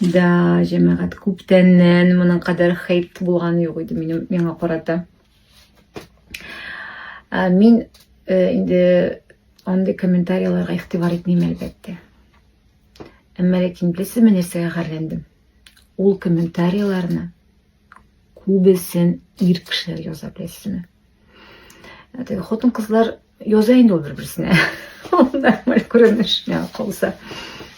Да, җәмәгать, күптәннән моның кадәр хейт булган юк иде минем миңа карата. Ә, мин э, инде андый комментарияләргә игътибар итмим әлбәттә. Әмма ләкин беләсезме нәрсәгә гарьләндем? Ул комментарияләрне күбесен ир кешеләр яза беләсезме? Хатын-кызлар Яза инде ул бер-берсенә. Нормаль күренеш миңа калса.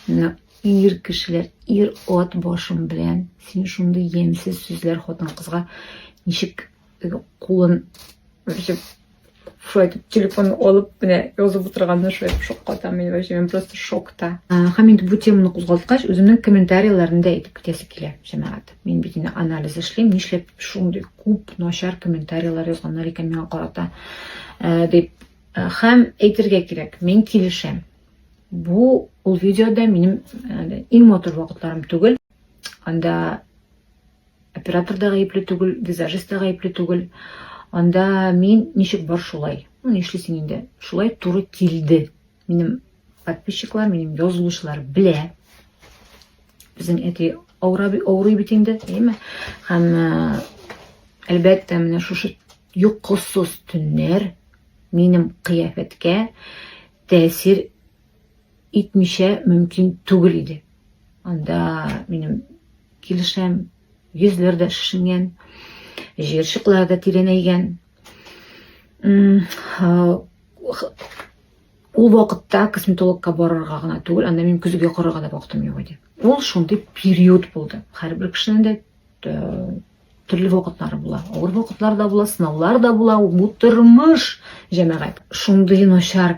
Менә ир кешеләр, ир ат башым белән син шундый ямьсез сүзләр хатын-кызга ничек кулын шулай итеп телефон алып менә язып отырганына шулай итеп шаккатам мин вообще мен просто шокта һәм инде бу теманы кузгалткач үземнең комментарийларымны да әйтеп китәсе килә җәмәгать Мин бит инде анализ эшлим, нишләп шундый күп начар комментарийлар язганнар икән миңа карата э, дип. Э, һәм әйтергә кирәк, мин килешәм. Бу ул видеода минем э, иң матур вакытларым түгел. Анда оператор да гаепле түгел, визажист та гаепле түгел. Анда мин ничек бар шулай. Ну, нишлисең инде? Шулай туры килде. Минем подписчиклар, минем язылучылар белә. Безнең әти авырый, авырый бит инде, әйме? Һәм әлбәттә, менә шушы йокысыз төннәр минем кыяфәткә тәэсир итмичә мөмкин түгел иде. Анда минем килешәм, йөзләр дә шешенгән, җыерчыклар да тирәнәйгән. Ул вакытта косметологка барырга гына түгел, анда минем көзгә карарга да вакытым юк иде. Ул шундый период булды. Һәрбер кешенең дә э, төрле вакытлары була. Авыр вакытлар да була, сынаулар да була. Бу тормыш, җәмәгать. Шундый начар